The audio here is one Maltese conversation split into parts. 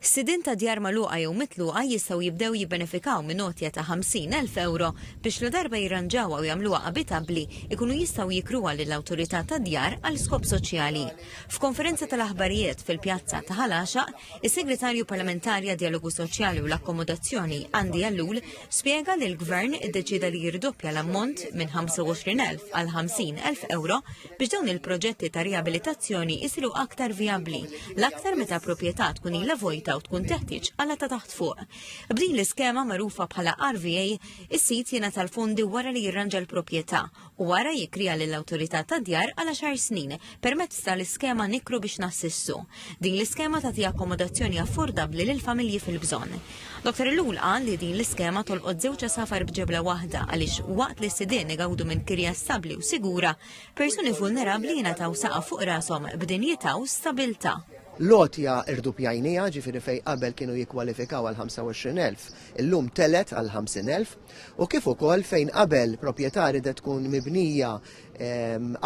Sidien ta' djar magħluqa jew mitluqa jistgħu jibdew jibbenefikaw minn għotja ta' 50,000 ewro biex ladarba jirranġawha u jagħmluha abitabbli jkunu jistgħu jikruha lill-Awtorità tad-Djar għal skop soċjali. F'konferenza tal-aħbarijiet fil-Pjazza ta' Ħal Għaxaq, is-Segretarju Parlamentari għad-Djalogu Soċjali u l-Akkomodazzjoni Andy Ellul spjega li l-Gvern iddeċieda li jirdoppja l-ammont minn 25,000 għal 50,000 ewro biex dawn il-proġetti ta' riabilitazzjoni jisiru aktar vijabbli, l-aktar meta proprjetà tkun ilha vojta u tkun teħtieġ għala ta' taħt fuq. B'din l-iskema magħrufa bħala RVA, is-sit jiena tal-fondi wara li jirranġa l-proprjetà u wara jikrija lill-awtorità ta' djar għala xar snin permezz tal-iskema nikru biex nassissu. Din l-iskema tagħti akkomodazzjoni affordabbli lill-familji fil-bżonn. Dottor Ellul qal li din l-iskema tolqot żewġ għasafar b'ġebla waħda għaliex waqt li s-sidien igawdu minn kirja stabbli u sigura, persuni vulnerabbli jingħataw saqaf fuq rashom b'dinjità u stabiltà. L-għotja rduppjajnieha, ġifieri fejn qabel kienu jikkwalifikaw għal 25,000, illum tgħelet għal 50,000, u kif ukoll fejn qabel propjetà ridet tkun mibnija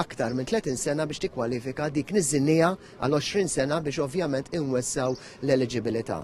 aktar minn 30 sena biex tikkwalifika dik niżżilnieha għal 20 sena biex ovvjament inwessgħu l-eliġibilità.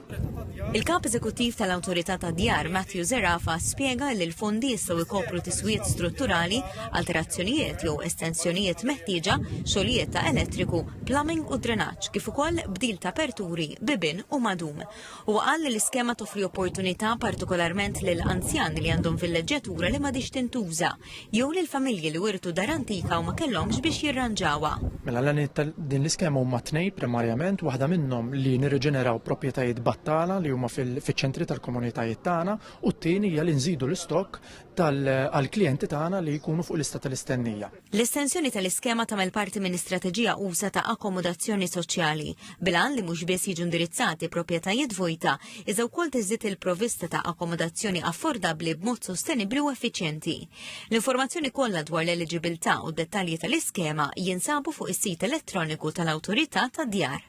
Il-Kap Eżekuttiv tal-Awtorità tad-Djar, Matthew Zerafa, spjega li l-fondi jistgħu jkopru tiswijiet strutturali, alterazzjonijiet jew estensjonijiet meħtieġa, xogħlijiet ta' elettriku, plumbing u drenaġġ kif ukoll bdil ta' aperturi, bibien u madum. Huwa qal li l-iskema toffri opportunità partikolarment lil anzjani li għandhom villeġġatura li m'għadhiex tintuża, jew lil familji li wirtu dar antika u ma kellhomx biex jirranġawha. Mela l-għanijiet ta' din l-iskema huma tnejn primarjament, waħda minnhom li nirriġeneraw proprjetajiet battala li huma fiċ-ċentri tal-komunitajiet tagħna u t-tieni hija li nżidu l-istokk għall-klijenti tagħna li jkunu fuq lista tal-istennija. L-estensjoni tal-iskema tagħmel parti minn istrateġija usa ta' akkomodazzjoni soċjali, bilan li mhux biss jiġu indirizzati proprjetajiet vojta, iżda wkoll tiżdied il-provista ta' akkomodazzjoni affordabbli b'mod sostenibbli u effiċjenti. L-informazzjoni kollha dwar l-eliġibilità u d-dettalji tal-iskema jinsabu fuq is-sit elettroniku tal-Awtorità tad-Djar.